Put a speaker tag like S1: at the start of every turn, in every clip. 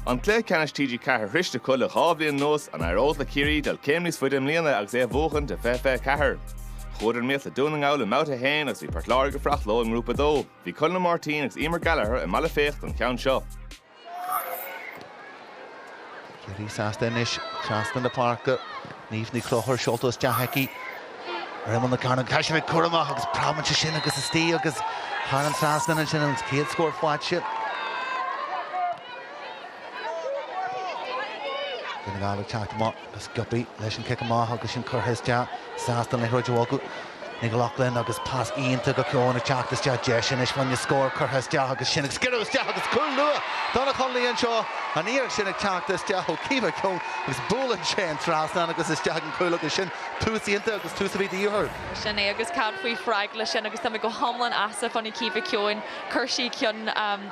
S1: An cluiche ceannais TG4 sroichte acu le dhá bhliain anuas, an éireoidh le Ciarraí dul céim níos faide i mbliana agus é a bhuachan de 2024? Chuadar in iomaíocht le Dún na nGall i mBabhta 1 agus bhí Port Láirge ag fuireacht leo i nGrúpa 2. Bhí Conall Ó Máirtín agus Emer Gallagher i mBealach Féich don cheann seo.
S2: Ciarraí sásta anois trasna na páirce. Niamh Ní Chonchúir seolta isteach aici ar imeall na cearnóige. Tá sibh ag cur amach agus preabann sé sin agus istigh agus thar an trasnán ansin an chéad scór faighte. Dún na nGall ag teacht amach. go sciobtha leis an cic amach agus sin curtha isteach sásta an liathróid a bhogadh. Nic Lochlainn agus pas iontach go Keon ag teacht isteach deis anois fá choinne scór curtha isteach agus sin ag sciorradh isteach agus cúl luath do na Conallaigh anseo an iarracht sin ag teacht isteach ó Caoimhe Keon agus buaileann sé an trasnán agus isteach ag an gcúl agus sin tús iontach agus tús a bhí de dhíth orthu. Sin é agus cad
S3: faoi freagra leis sin agus táimid go hiomlán sásta fá choinne Caoimhe Keon. Chuir sí ceann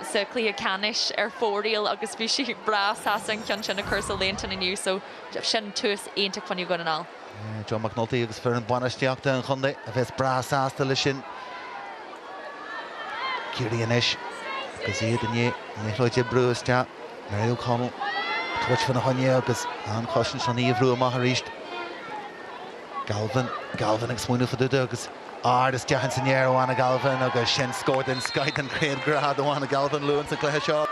S3: sa chluiche ceannais ar fóraoil agus bhí sí breá sásta an ceann sin a chur sa líontán inniu so sin tús iontach fá choinne Dhún na nGall. John McNulty
S2: agus foireann bainistíochta an chontae a bheas breá sásta leis sin. Ciarraí anois agus iad i ndiaidh an liathróid a bhrú isteach. Mary O'Connell ag tabhairt faoina choinne agus an chosaint san í a bhrú amach arís. Galvin, Galvin ag smaoineamh fá dtaobh de agus ard isteach ins an aer ó Anna Galvin agus sin scór den scoith den chéad grád ó Anna Galvin luath ins an cluiche seo.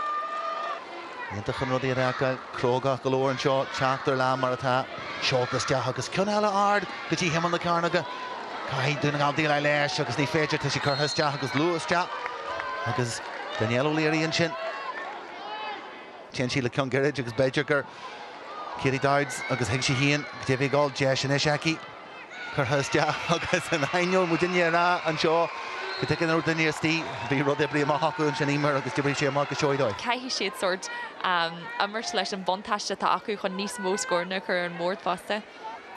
S2: Iontach an rud iad a fheiceáil, crógach go leor anseo teacht ar lá mar atá, seolta isteach agus ceann eile ard go dtí himeall na cearnóige. Caithfidh Dún na nGall déileáil leis agus ní féidir, tá sí curtha isteach agus luath isteach agus Danielle O'Leary ansin. Téann sí le ceann gairid agus b'fhéidir gur Katie Dowds agus thuig sí féin go deimhin go bhfuil deis anois aici curtha isteach agus in ainneoin mo dhuine a rá anseo go dtuigeann an duine istigh, bhí rud oibrithe amach acu ansin, Eimear, agus d'oibrigh sé amach go seoigh dóibh. Caithfidh siad
S3: sórt, am, imirt leis an buntáiste atá acu chun níos mó scóranna a chur ar an mbord fosta.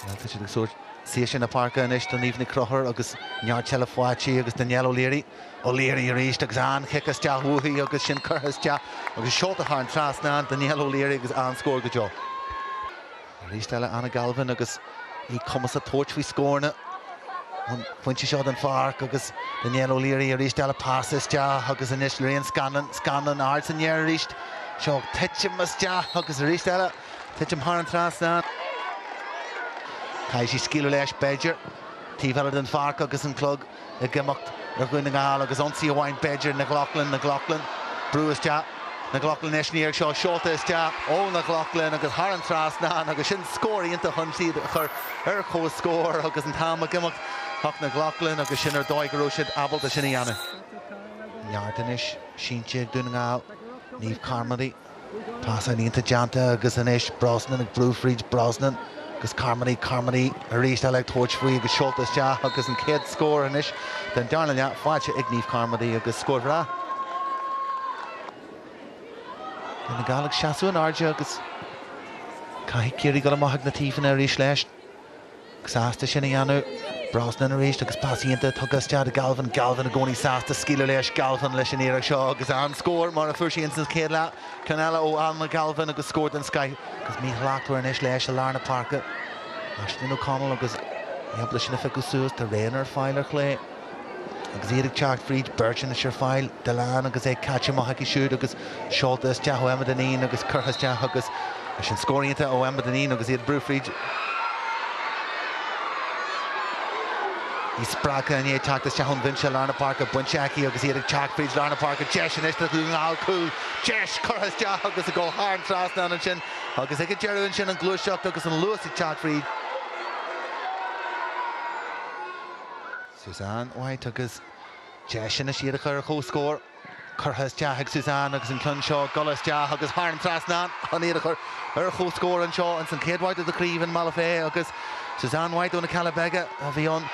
S3: Bhuel, tá siad ag
S2: súil. Trasna na páirce anois do Niamh Ní Chonchúir agus neart seilbhe faighte agus Danielle O'Leary. O'Leary arís agus an-chic isteach uaithi agus sin curtha isteach agus seolta thar an trasnán. Danielle O'Leary agus an-scór go deo. Arís eile Anna Galvin agus í cumasach tabhairt faoi scóranna ón phointe seo den pháirc agus Danielle O'Leary arís eile pas isteach agus anois Lorraine Scanlon. Scanlon ard san aer arís. Seo ag titim isteach agus arís eile. Titim thar an trasnán. Caithfidh sí scaoileadh leis, b'fhéidir, taobh eile den pháirc agus an clog ag imeacht ar Dhún na nGall agus ionsaí amháin, b'fhéidir, Nic Lochlainn. Nic Lochlainn, brú isteach. Nic Lochlainn leis an iarracht seo, seolta isteach ó Nic Lochlainn agus thar an trasnán agus sin scór iontach chun iad a chur ar comhscór agus an t-am ag imeacht. Ach Nic Lochlainn agus sin ar dóigh go raibh siad ábalta sin a dhéanamh. Neart anois sínte ag Dún na nGall, Niamh Carmody. Pas iontach déanta agus anois Brosnan ag brú fríd Brosnan agus Carmody, Carmody arís eile ag tabhairt faoi agus seolta isteach agus an chéad scór anois den darna leath faighte ag Niamh Carmody agus scór bhreá. Dún na nGall ag seasamh in airde agus caithfidh Ciarraí dul amach ag na taobhanna arís leis. sásta sin a dhéanamh. Brosnan arís agus pas iontach tugtha isteach do Galvin. Galvin i gcónaí sásta scaoileadh leis. Galvin leis an iarracht seo agus an scór mar a fuair sé ins an chéad leath. Ceann eile ó Anna Galvin agus scór den scoith agus míshlachtmhar anois leis i lár na páirce. Aisling O'Connell agus í ábalta sin a phiocadh suas. Tá Reina ar fáil ar chlé. Agus iad ag teacht fríd beirt anois ar fáil, Dillane agus é caite amach aici siúd agus seolta isteach ó Emma Dineen agus curtha isteach agus sin scór iontach ó Emma Dineen agus iad ag brú fríd. Í spreagtha i ndiaidh teacht isteach ón bhinse lár na páirce bainte aici agus iad ag teacht fríd lár na páirce. Deis anois do Dhún na nGall cúl. Deis curtha isteach agus ag dul thar an trasnán ansin agus ag an deireadh ansin an ghluaiseacht agus an luas ag teacht fríd. Suzanne White agus deis anois iad a chur ar comhscór curtha isteach ag Suzanne agus an ceann seo ag dul isteach agus thar an trasnán chun iad a chur ar comhscór anseo ins an chéad bhabhta den chraobh i mBealach Féich agus Suzanne White ó na Cealla Beaga a bhí an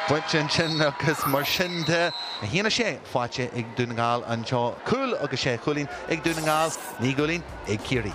S2: phointe ansin agus mar sin de 1-6 faighte ag Dún na nGall anseo. Cúl agus sé chúilín ag Dún na nGall, naoi gcúilín ag Ciarraí.